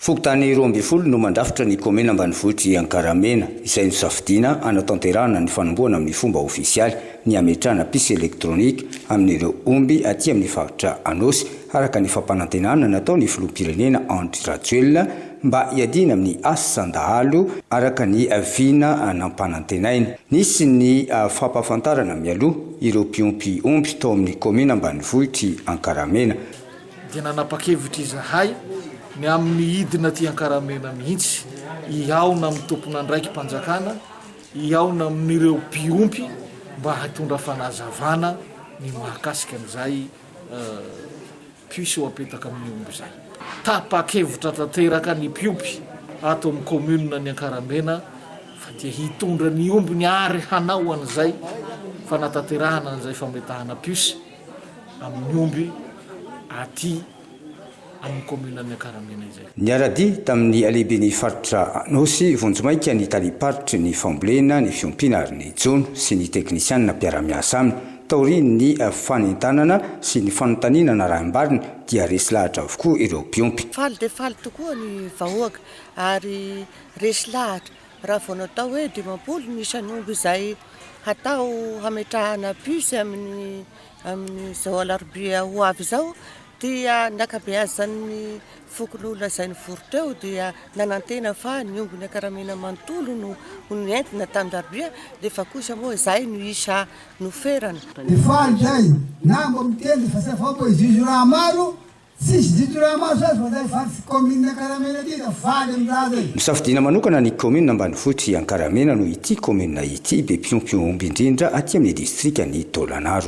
Fokontany roa ambin'ny folo no mandrafitra ny kaomina ambanivohitr'i Ankaramena, izay nosafidiana hanatanterahana ny fanombohana amin'ny fomba ofisialy ny hametrahana puce électronique amin'ireo omby aty amin'ny faritra Anôsy, araka ny fampanantenana nataon'ny filoham-pirenena Andry Rajoelina mba hiadiana amin'ny asan-dahalo, araka ny vina nampanantenainy. Nisy ny fampahafantarana mialoha ireo mpiompy omby tao amin'ny kaomina ambanivohitr'i Ankaramena. dia nanapa-kevitra izahay ny amin'ny hidina aty Ankaramena mihitsy hihaona amin'ny tompon'andraiki-panjakana, hihaona amin'ireo mpiompy mba hitondra fanazavana ny mahakasika an'izay puce ho apetaka amin'ny omby izay. Tapa-kevitra tanteraka ny mpiompy ato amin'ny kaominina ny Ankaramena fa dia hitondra ny ombiny ary hanao an'izay fanatanterahana an'izay fametahana puce. amin'ny omby aty amin'ny kaominina Miakaramena izay. Niara-dia tamin'ny halehiben'ny faritra Anôsy vonjimaika ny talim-paritry ny fambolena, ny fiompiana ary ny jono sy ny teknisianina mpiara-miasa aminy. Taorian'ny fanentanana sy ny fanontaniana narahim-bariny dia resy lahatra avokoa ireo mpiompy. Faly dia faly tokoa ny vahoaka ary resy lahatra Raha vao natao hoe dimampolo ny isan'omby izay hatao hametrahana puce amin'ny amin'izao alarobia ho avy izao dia ny ankabeazan'ny fokonolona izay nivory teo dia nanantena fa ny omby nakaramena manontolo no nentina tamin-dRabia nefa kosa moa izay no isa noferana. Efa andry ay, na mba miteny fa zavaboahizo izy io raha maro Tsisy didy raha maso azy fa zay vadiko commune ankaramena ty da faly am raha zay. Misafidiana manokana ny Kaominina ambanivohitr'i Ankaramena noho ity Kaominina ity be mpiompy omby indrindra aty amin'ny Distrikan'i Taolagnaro.